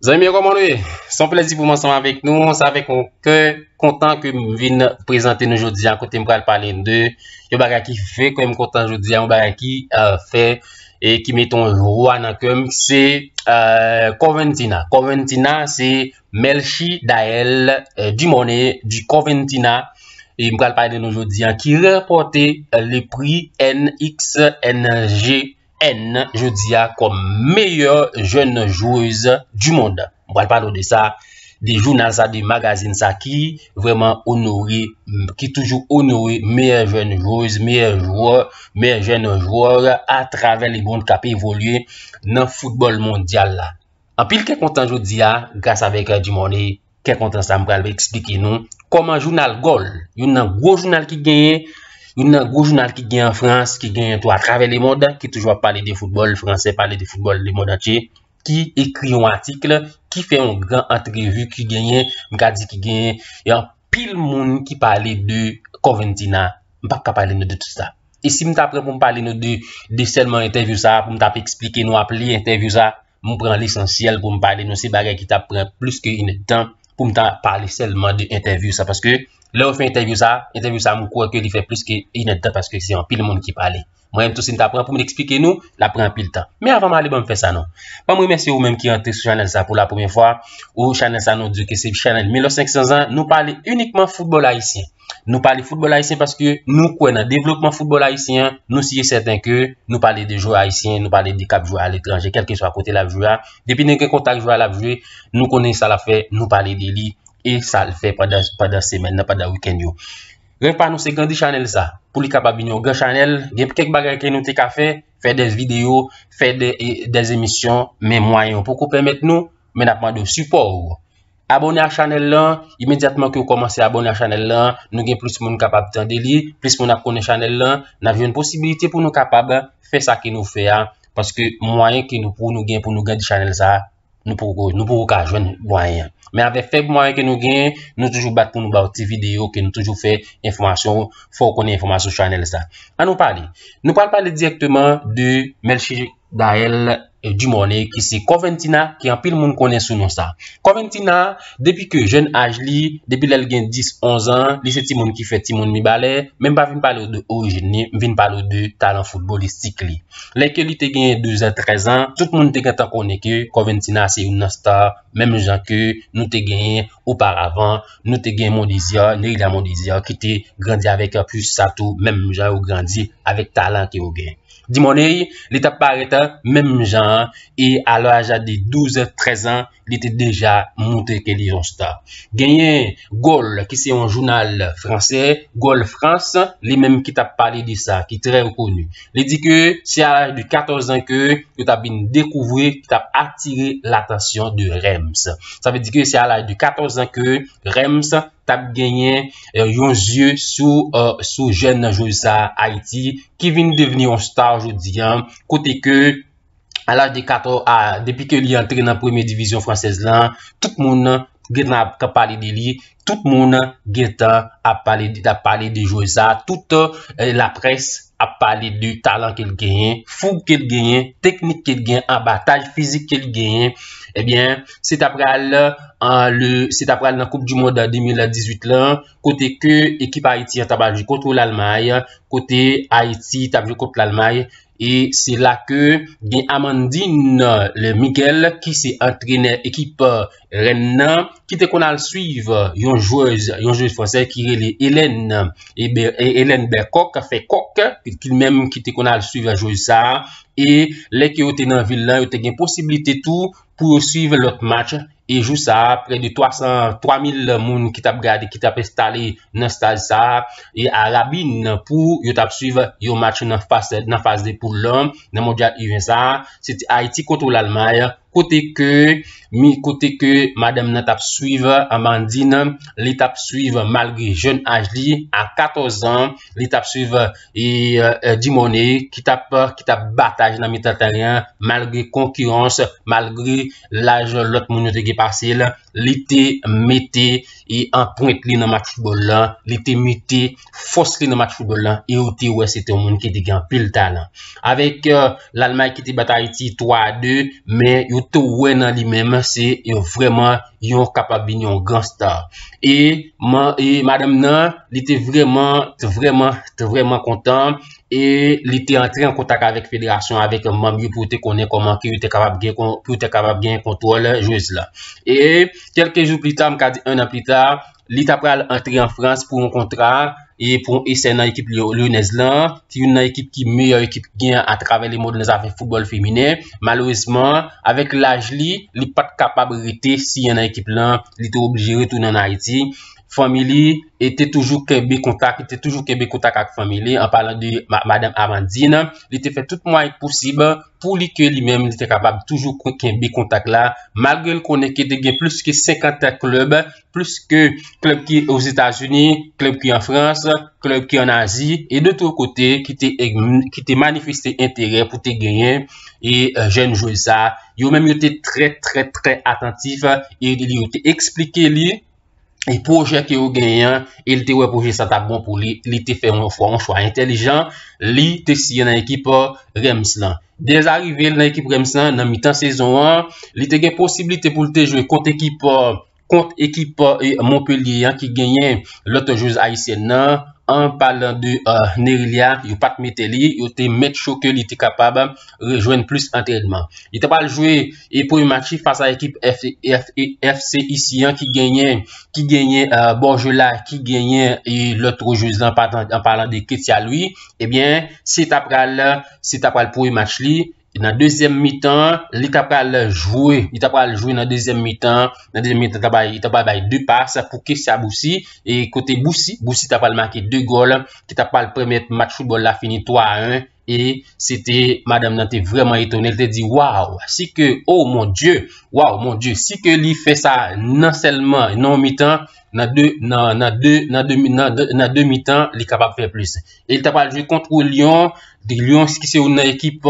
Zanmi yo koman nou ye? Son plezi pou m ansanm avèk nou. Sa avèk yon kè kontan ke m vin prezante nou jodi a kote m pral pale de yon bagay ki fè kè m kontan jodi a, yon bagay ki fè e ki met yon jwa nan kè m, se Corventina. Corventina se Melchie Daelle Dumornay di Corventina e m pral pale de nou jodi an ki ranpòte le pri NXNGN jodi a kòm meyè jèn jwez du monn. M pral pale w de sa, de jounal sa, de magazin sa ki vreman onore, ki toujou onore meyè jèn jwez, meyè jwè, meyè jèn jwè a travè le mond k ap evolye nan foutbòl mondyal la. Anpil kè kontan jodi a, gras avèk Dimone, kè kontan sa m pral eksplike nou kòman jounal Gòl, youn nan gwo jounal ki genyen, youn nan gwo jounal ki genyen an Frans, ki genyen tou a travè le mond, ki toujou ap pale de foutbòl franse, pale de foutbòl le mond antye, ki ekri yon atikl, ki fè yon gran antrevi ki genyen, m ka di ki genyen yon anpil moun ki pale de Corventina, m pap ka pale nou de tout sa. E si m ta pran pou m pale nou de, de sèlman entèvyou sa a, pou m ta ap esplike nou, ap li entèvyou sa a, m pran lesansyèl pou m pale nou, se bagay ki ta pran plis ke inèdtan pou m ta pale sèlman de entèvyou sa a, paske lè ou fè entèvyou sa a, entèvyou sa a m kwè ke li fè plis ke inèdtan paske se anpil moun ki pale. Mwen menm tou si m ta pran pou m eksplike nou, l ap pran anpil tan. Men avan m ale banm fè sa non. Banm remèsye ou menm ki antre sou chanèl sa pou la premyè fwa. Ou chanèl sa nou di ke se chanèl Milo 500 ans, nou pale inikman foutbòl ayisyen. Nou pale foutbòl ayisyen paske nou kwè nan devlopman foutbòl ayisyen an, nou si e sèten ke nou pale de jwè ayisyen, nou pale de k ap jwe aletranje kèlkeswa kote l ap jwe a, depi nou gen kontak jwè a l ap jwe, nou konnen sa l ap fè, nou pale de li e sa l fè pandan semèn nan, pandan wikèn yo. Rèv pa nou se grandi chanèl sa pou li kapab vin yon gran chanèl, gen kèk bagay ke nou te ka fè, fè des videyo, fè des emisyon men mwayen yo poko pèmèt nou, men nap mande w sipò ou. Abòne ak chanèl lan, imedyatman ke w kòmanse abòne ak chanèl lan, nou gen plis moun kapab tande li, plis moun ap konnen chanèl lan, nap jwenn posibilite pou nou kapab fè sa ke nou fè a, paske mwayen ke nou pou nou gen pou nou grandi chanèl sa. nou poko nou poko ka jwenn mwayen. Men avèk fèb mwayen ke nou gen, nou toujou bat pou nou ba ti video ke nou toujou fè enfòmasyon, fò ou konnen enfòmasyon sou chanèl sa. An nou pale. Nou pral pale direkteman de Melchie Gaël euh, Dumornay ki se Corventina ki anpil moun konnen sou non sa. Corventina, depi ke jèn aj li, depi lèl gen 10, 11 an, li se ti moun ki fè ti moun mibalè, men m pa vin pale ou de orijin li, m vin pale ou de talan foutbolistik li. Lè ke li te genyen 12 an, 13 an, tout moun te gentan konnen ke Corventina se youn nan star, menm jan ke nou te genyen oparavan, nou te gen Mondésir, Neila Mondésir ki te grandi avèk Pus sa tou, menm jan yo grandi avèk talan ke yo gen. Dimoney, li tap parèt menm jan an e a laj de 12 an, 13 an, li te deja montre ke li yon star. Genyen Gol ki se yon jounal fransè, Gol France, li menm ki tap pale de sa, ki trè koni. Li di ke se a laj de 14 an ke yo tap vin dekouvri, ki tap atire latansyon de Rems. Sa vle di ke se a laj de 14 an ke Rems tap genyen yon zye sou jèn nan jwez sa Ayiti ki vin devni yon star jodi an kote ke a laj de 14 a depi ke li antre nan premye divizyon fransèz lan, tout moun nan gen nan ap pale de li, tout moun nan gen tan ap pale de ap pale de jwè sa, tout euh, la près ap pale de talan ke l genyen, foug ke l genyen, teknik ke l genyen, anbataj fizik ke l genyen, ebyen eh se ta pral an le se ta pral nan koup du mond 2018 lan, kote ke ekip Ayiti an ta pral jwe kontr Lalmay, kote Ayiti ta p jwe kontr Lalmay. E se la ke gen Amandine le Miguel ki se antrenè ekip Rennes nan ki te konn al swiv yon jwez, yon jwez fransè ki rele Hélène, Hélène Bercoq fè kòk li menm ki te konn al swiv jwez sa e lè ke yo te nan vil la yo te gen posiblite tou pou yo swiv lòt match E jou sa a, prè de 303 mil moun ki t ap gade, ki t ap enstale nan stad sa a, e a rabin pou yo t ap swiv yon match nan fas nan faz de poul lan nan mondyal U20 sa a, se te Ayiti kontre Lalmay, kote ke mi kote ke madanm nan t ap swiv Amandine, li t ap swiv malgre jèn aj li, a 14 zan, li t ap swiv e Dumornay ki t ap ki t ap batay nan mitan tèren an malgre konkirans, malgre. laj lòt moun yo te gen pase l, li te mete e anprent li nan match foutbòl la, li te mete fòs li nan match foutbòl la e ou te wè se te yon moun ki te gen anpil talan. Avèk euh, Lalmay ki te bat Ayiti 3 a 2, men yo te wè nan li menm se yon vrèman yon kapab vin yon gran star. E, e madanm nan, li te vrèman, vrèman, vrèman kontan. e li te antre an kontak avèk federasyon avèk manm yo pou te konnen koman ki yo te kapab gen pou yo te kapab gen kontwòl jwez la. E kelke jou pli ta, m ka di 1 an pli ta, li ta pral antre an Frans pou yon kontra e pou yon esè nan ekip Lyonnaise la, ki youn nan ekip ki meyè ekip ki gen a travè le mond nan zafè foutbòl feminen. Malerezman, avèk laj li, li pat kapab rete siyen nan ekip la, li te oblije retounen an Ayiti fanmi li e te toujou kenbe kontak, li te toujou kenbe kontak ak fanmi li, an palan de Madame Amandine, li te fè tout mwayen posib pou li ke li menm li te kapab toujou kenbe kontak la, malgre l konnen ke te gen plis ke 50 klèb, plis ke klèb ki o Zetazini, klèb ki an Frans, klèb ki an Azi, e de tout kote ki te manifeste enterè pou te genyen e jèn jwe sa, yo menm yo te trè trè trè atantif e li yo te eksplike li, e pwojè ke yo genyen, e li te wè pwojè sa ta bon pou li, li te fè yon fwa, yon chwa entelijan, li te siyen nan ekip Rèms lan. Dèz arive l nan ekip Rèms lan, nan mitan sezon an, li te gen posibilite pou li te jwe kont ekip kont ekip Montpellier an ki genyen lòt jwez ayisyèn nan, an palan de Nerilia, yo pat mete li, yo te mèt cho ke li te kapab rejwenn plis antrènman. Li ta pral jwe e premye match li fas a ekip FC Issy an ki genyen ki genyen Borgela ki genyen e lòt trojez lan an palan de Ketia Louis ebyen eh se ta pral se ta pral premye match li nan dezyèm mitan li ta pral jwe li ta pral jwe nan dezyèm mitan nan dezyèm mitan ta bay li ta pral bay 2 pas pou Ketia Boussy e kote Boussy Boussy ta pral make 2 gòl ki ta pral pèmèt match foutbòl la fini 3 a 1 E se te madam nan te vreman etone, li te di, waw, si ke, o oh mon Dye, waw, mon Dye, si ke li fè sa nan sèlman, nan yon mitan, nan de, nan, nan de, nan de, nan de, nan de mitan, li kapab fè plis. E li ta pral jwe kont yon lyon, di lyon ki se yon nan ekip,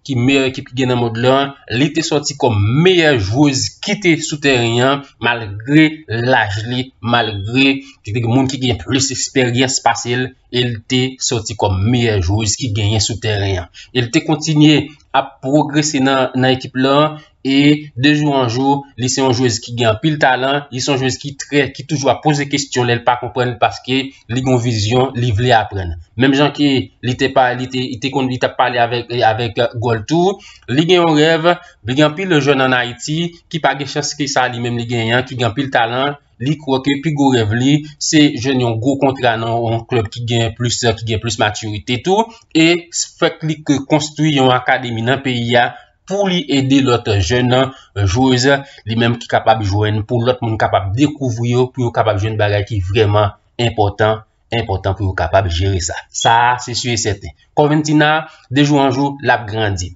ki meyè ekip ki gen nan mond lan, li te soti kòm meyè jwez ki te sou tèren an, malgre laj li, malgre, ki te gen moun ki gen plis esperyans pase li, e l te sòti kòm meyè jwez ki genyen sou tèren an. E l te kontinye ap pwogrese nan ekip lan e de jou an jou li se yon jwez ki gen anpil talan, li se yon jwez ki trè, ki toujou ap poze kestyon lè l pa konprann paske li gen yon vizyon, li vle aprann. Menm jan ke li te pa, li te, li te konn, li t ap pale avèk, avèk Goal tou, li gen yon rèv, gen anpil jèn an Ayiti ki pa gen chans ke sa li menm li genyen an, ki gen anpil talan. Li kwè ke pi gwo rèv li se jwenn yon gwo kontra nan yon klèb ki gen plis sa, ki gen plis matirite tou. E fèt li ke konstwi yon akademi nan peyi a pou li ede lòt jèn nan jwez li menm ki kapab jwenn pou lòt moun kapab dekouvri yo pou yo kapab jwenn bagay ki vreman enpòtan, enpòtan pou yo kapab jere sa. Sa a se si e sèten. Kòventina, de jou an jou, l ap grandi.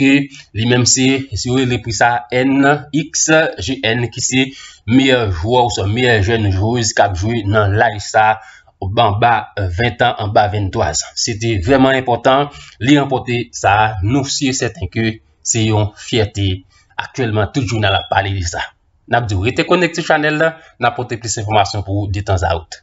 ke li menm se si yo rele pri sa NXGN ki se meyè jwè ou swa meyè jèn jwez kap jwe nan laj sa anba 20 an, anba 23 an. Se te vreman enpotan li ranpote sa, nou si e sèten ke se yon fyète aktyèlman tout jounal ap pale de sa. Nap di ou rete konekte chanèl la, nap pote plis enfomasyon pou ou detan zaout.